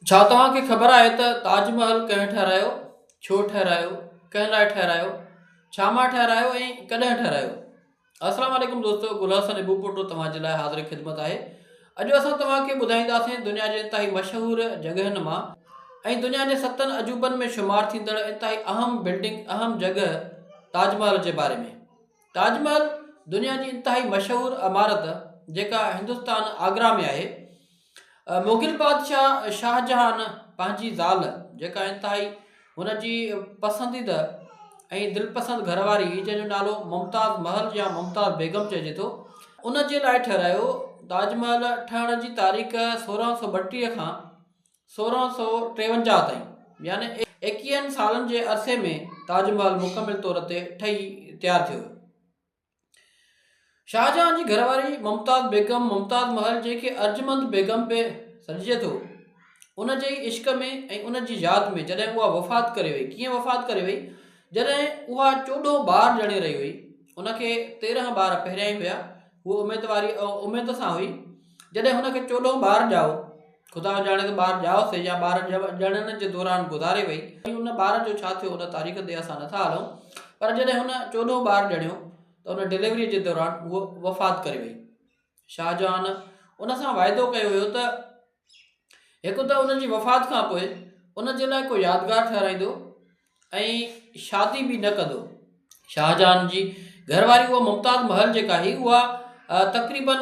ڇا توهان کي خبر آهي ته تاج محل ڪنهن ٺهرايو؟ ڇو ٺهرايو؟ ڪنهن لاء ٺهرايو؟ ڇا مان ٺهرايو ۽ ڪڏهن ٺهرايو؟ السلام عليڪم دوستو گل حسن ابو پوٽو توهان جي لاء حاضر خدمت آهي اڄ اسان توهان کي ٻڌائينداسين دنيا جي انتهائي مشهور جڳهن مان ۽ دنيا جي ستن عجوبن ۾ شمار ٿيندڙ انتهائي اهم بلڊنگ اهم جڳهه تاج محل جي باري ۾ تاج محل دنيا جي انتهائي مشهور عمارت جيڪا هندستان آگرا ۾ آهي مغل بادشاهه شاهجهان پنهنجي زال جيڪا انتهائي هن جي پسنديده ۽ دلپسند گهرواري هئي جنهن جو نالو ممتاز محل يا ممتاز بيگم چئجي ٿو ان جي لاء ٺهرايو تاج محل ٺهڻ جي تاريخ سورهن سو ٻٽيهه کان سورهن سو ٽيونجاهه تائين يعني ايڪيهن سالن جي عرصي ۾ تاج محل مڪمل طور تي ٺهي تيار ٿيو شاهجهان جي گهر واري ممتاز بيگم ممتاز محل جنهن کي ارجمند بيگم به سڏجي ٿو ان جي ئي عشق ۾ ۽ ان جي ياد ۾ جڏهن اها وفات ڪري وئي ڪيئن وفات ڪري وئي جڏهن اها چوڏهون ٻار ڄڻي رهي هئي ان کي تيرهن ٻار پهريائين هيا هوء اميد واري اميد سان هئي جڏهن هن کي چوڏهون ٻار ڄائو خدا ڄاڻي ته ٻار ڄائو سي يا ٻار ڄڻڻ جي دوران گذاري وئي ۽ ان ٻار جو ڇا ٿيو ان تاريخ تي اسان نٿا هلون پر جڏهن هن چوڏهون ٻار ڄڻيو ته ان ڊليوريء جي دوران هوء وفات ڪري وئي شاهجهان ان سان واعدو ڪيو هيو ته هڪ ته ان جي وفات کان پوء ان جي لاء ڪو يادگار ٺهرائيندو ۽ شادي به نه ڪندو. شاهجهان جي گهر واري اها ممتاز محل جيڪا هئي اها تقريباً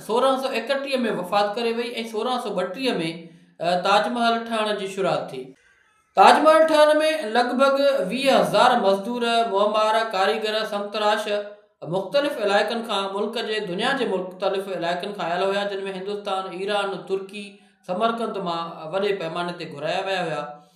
سورهن سؤ ايڪٽيهه ۾ وفات ڪري وئي ۽ سورهن سؤ ٻٽيهه ۾ تاج محل ٺهڻ جي شروعات ٿي. تاج محل ٺهڻ ۾ لڳ ڀڳ ويهه هزار مزدور، معمار، ڪاريگر، سمتراش مختلف علائقن کان ملڪ جي دنيا جي مختلف علائقن کان آيل هيا جن ۾ هندستان، ايران، ترڪي، سمرقند مان وڏي پئماني تي گهرايا ويا هيا.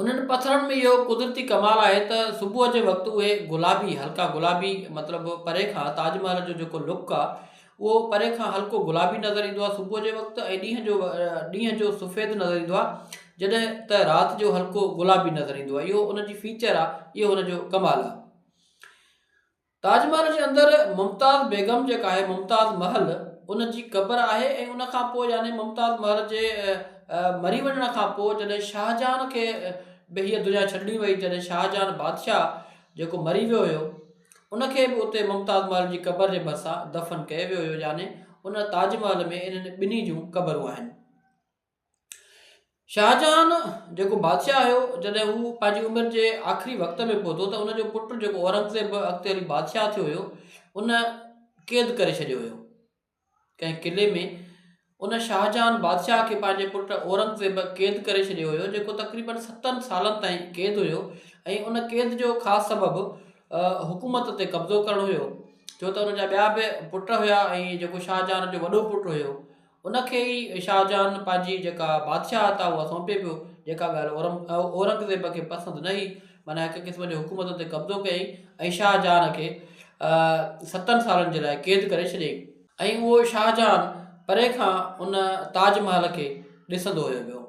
انهن پٿرن ۾ اهو قدرتي ڪمال آهي ته صبح جي وقت اهي گلابي هلڪا گلابي مطلب پري کان تاج محل جو جيڪو لڪ آهي اهو پري کان هلڪو گلابي نظر ايندو آهي صبح جي وقت ۽ ڏينهن جو ڏينهن جو سفيد نظر ايندو آهي جڏهن ته رات جو هلڪو گلابي نظر ايندو آهي اهو ان جي فيچر آهي اهو ان جو ڪمال آهي تاج محل جي اندر ممتاز بيگم جيڪا آهي ممتاز محل ان جي قبر آهي ۽ ان کان پوء يعني ممتاز محل جي مري وڃڻ کان پوء جڏهن شاهجهان کي به هيء دنيا ڇڏڻي وئي جڏهن شاهجهان بادشاهه جيڪو مري ويو هيو ان کي به اتي ممتاز محل جي قبر جي ڀرسان دفن ڪيو ويو هيو يعني ان تاج محل ۾ انهن ٻنهي جون قبرون آهن. شاهجهان جيڪو بادشاهه هيو، جڏهن هو پنهنجي عمر جي آخري وقت ۾ پهتو ته ان جو پٽ جيڪو اورنگزيب اڳتي هلي بادشاهه ٿيو هيو، ان قيد ڪري ڇڏيو هيو. ڪنهن قلعي ۾ ان شاهجهان بادشاهه کي پنهنجي پٽ اورنگزيب قيد ڪري ڇڏيو هيو، جيڪو تقريبن ستن سالن تائين قيد هيو ۽ ان قيد جو خاص سبب حڪومت تي قبضو ڪرڻ هيو، ڇو ته ان جا ٻيا به پٽ هيا ۽ جيڪو شاهجهان جو وڏو پٽ هيو، ان کي ئي شاهجهان پنهنجي جيڪا بادشاهت آهي اها سونپي پيو جيڪا ڳالهه اورم اورنگزيب کي پسند نه هئي معنيٰ هڪ قسم جو حڪومت تي قبضو ڪيائين ۽ شاهجهان کي ستن سالن جي لاء قيد ڪري ڇڏيائين ۽ اهو شاهجهان پري کان ان تاج محل کي ڏسندو هيو ويو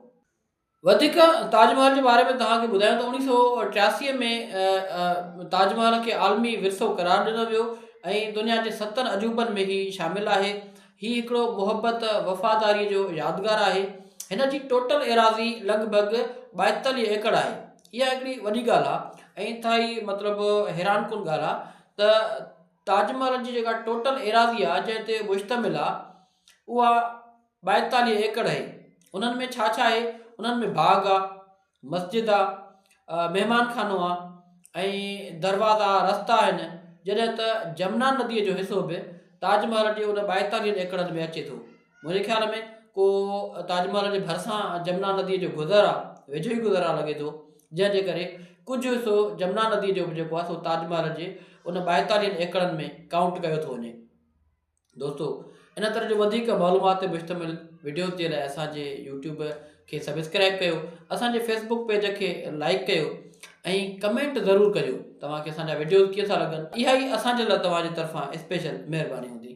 وڌيڪ تاج محل جي باري ۾ توهان کي ٻڌايون ته اوڻيهه سؤ ٽياسي ۾ تاج محل کي عالمي ورثو قرار ڏنو ويو ۽ دنيا جي ستن عجوبن ۾ هي شامل آهي هي هڪڙو محبت وفاداري جو يادگار آهي هن جي ٽوٽل ايراضي لڳ ڀڳ ٻائيتاليهه ايڪڙ آهي اها هڪڙي وڏي ڳالهه آهي ۽ انتهائي مطلب حيران ڪن ڳالهه آهي ته تاج محل جي جيڪا ٽوٽل ايراضي آهي جنهن تي مشتمل آهي اها ٻائيتاليهه ايڪڙ اهي انهن ۾ ڇا ڇا اهي انهن ۾ باغ آ مسجد آ مهمان خانو آ ۽ دروازا رستا آهن جڏهن ته جمنا نديء جو حصو به تاج محل جي ان ٻائيتاليهن ايڪڙن ۾ اچي ٿو منهنجي خيال ۾ ڪو تاج محل جي ڀرسان جمنا نديء جو گذر آ ويجهو ئي گذر آ لڳي ٿو جنهن جي ڪري ڪجهه حصو جمنا نديء جو به جيڪو آ سو تاج محل جي ان ٻائيتاليهن ايڪڙن ۾ ڪائونٽ ڪيو ٿو وڃي دوستو ان طرح جو وڌيڪ معلومات تي مشتمل وڊيوز جي لاء اسان جي يوٽيوب کي سبسڪرائب ڪيو اسان جي فيسبوڪ پيج کي لائڪ ڪيو ۽ ڪمينٽ ضرور ڪجو توهان کي اسان جا وڊيوز ڪيئن ٿا لڳن اها ئي اسان جي لاء توهان جي طرفان اسپيشل مهرباني هوندي